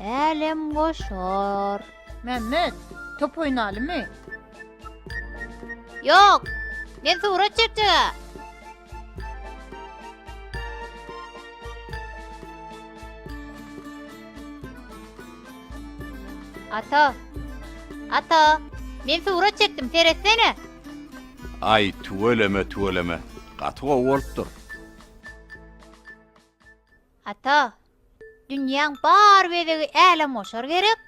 Älem goşar. Mämmet, top oýnalymy? Ýok. Men surat çekjeg-ä. Ata. Ata, men surat çekdim, seretsene. Aý, tüweleme, tüweleme. Gaty gowy bolupdyr. Ata, dünýäň bar bezegi älemgoşar gerek?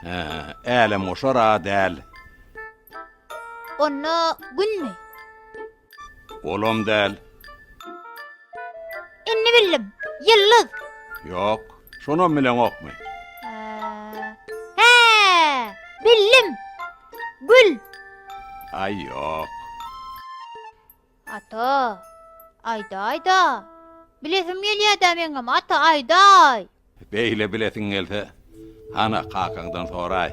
Hä, älemgoşar-a däl. Onda Günmi? Olam däl. Indi bildim, Ýyldyz. Ýok, şonam bileňokmy? Hä, bildim, Gül. Aý, ýok. Ata, aýdaý-da! Bilesim gelýär-dä meňem, ata, aýdaý! Beýle bilesiň gelse, hana, kakaňdan soraý.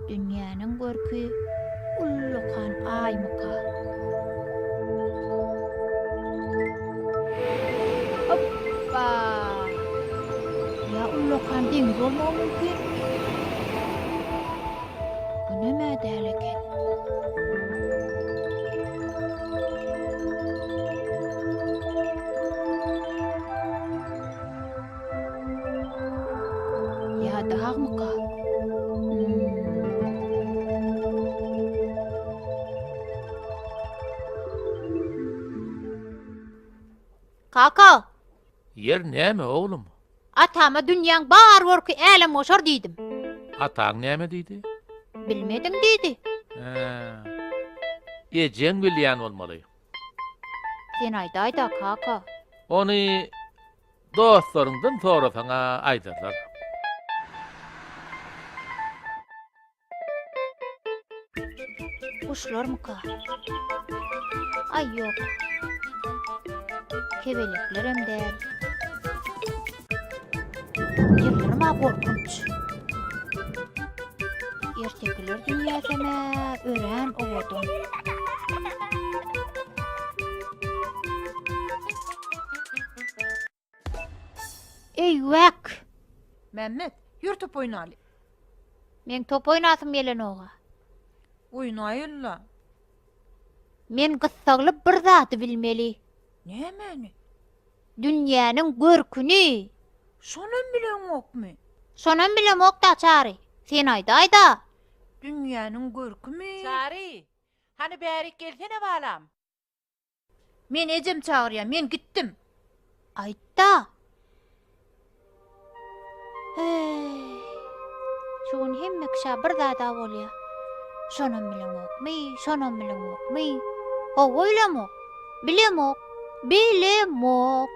Dünýäniň görki ullakan Aýmyka? Hoppa! Ýa ullakan deňiz bolmagy mümkin? Günem-ä däl eken. Ýa dagmyka? Kaka! Ýer näme, oglum? Atama dünýäň bar görki älemgoşar diýdim. Ataň näme diýdi? Bilmediň diýdi. Hä. Ejeň bilýän bolmaly. Sen aýdaýda kaka. Ony dostlaryňdan sorasaň-a aýdarlar. Guşlarmyka? Aý ýok. Kebelekler hem däl. Ýyldyrym-a gorkunç. Ertekiler dünýäsem-ä örän owadan. Eý wak. Mämmet, ýör top oýnaly. Meň top oýnasym gelenoga. Oýnaýyl-la. Men gyssagly bir zady bilmeli. Nämäni? Dünýäniň görküni. Şonam bileňokmy? Şonam bilemok-da, Çary. Sen aýdaý-da. Dünýäniň görkümi? Çary, hany bärik gelsene balam. Men ejem çagyrýar, men gitdim. Aýtda. Eý. Şu gün hemme kişä bir zada bolýar. Şonam bilemokmy, şonam bilemokmy? Hawa bilemok. Bilemok. Bilemok.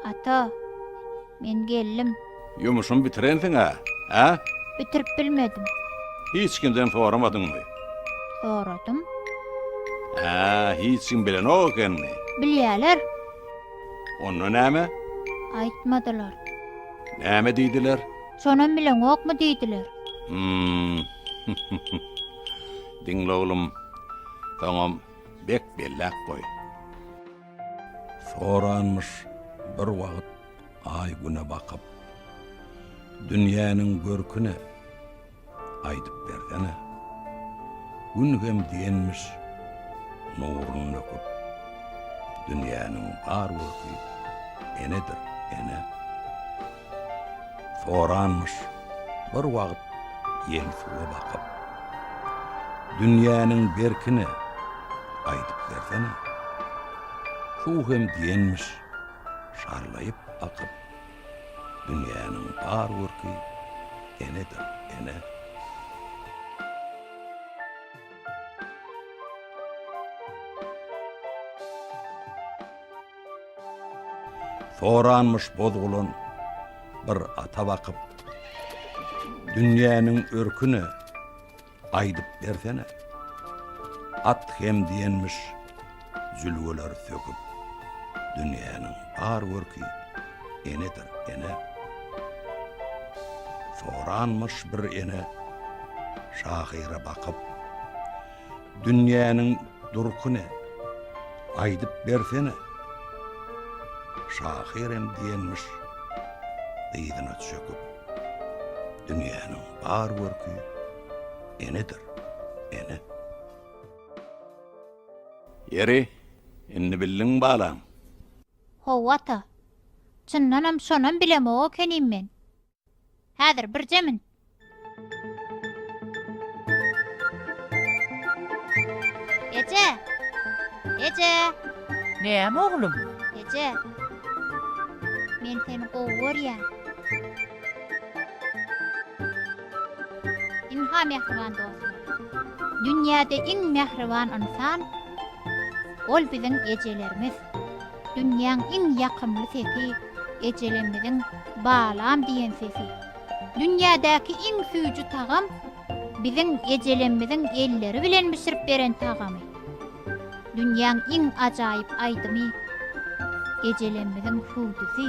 Ata. Men geldim. Ýumuşyňy bitirensiň-ä, hä? Bitirip bilmedim. Hiç kimden soramadyňmy? Soradym. Hä, hiç kim bilenok ekenmi? Bilýärler. Onda näme? Aýtmadylar. Näme diýdiler? Şonam bileňokmy diýdiler. Hum. Diňle oglum, soňam bek belläp goý. Soranmyş bir wagt Aý-Güne bakyp. Dünýäniň görki ne? Aýdyp bersene. Gün hem diýenmiş nurun döküp. Dünýäniň bar görki enedir, ene. Soranmyş bir wagt ýel suwa bakyp. Dünýäniň berkini aýdyp bersene. Suw hem diýenmiş şarlaýyp akyp. Dünýäniň bar görki enedir, ene. Soranmyş bozgulan bir ata bakyp, Dünýäniň örküne aýdyp bersene, At hem diýenmiş zülgeler söküp, Dünýäniň bar görki enedir, ene. Soranmyş bir ene şahyra bakyp, Dünýäniň durky ne? Aýdyp bersene. Şahyr hem diýenmiş dyzyna çöküp, Dünýäniň bar görki enedir, ene. Ýeri, indi bildiňmi balam? Hawa ata. Çyndanam şonam bilemok ekenim men. Häzir birje min. Eje! Eje! Näme oglum? Eje! Men seni gowy görýän. Inha mähriban dostlar. Dünýäde iň mähriban ynsan ol biziň ejelerimiz. Dünýäň iň ýakymly sesi, ejelerimiziň Balam diýen sesi. Dünýädäki iň süýji tagam, biziň ejelerimiziň elleri bilen bişirip beren tagamy. Dünýäň iň ajaýyp aýdymy, ejelerimiziň hüwdüsi.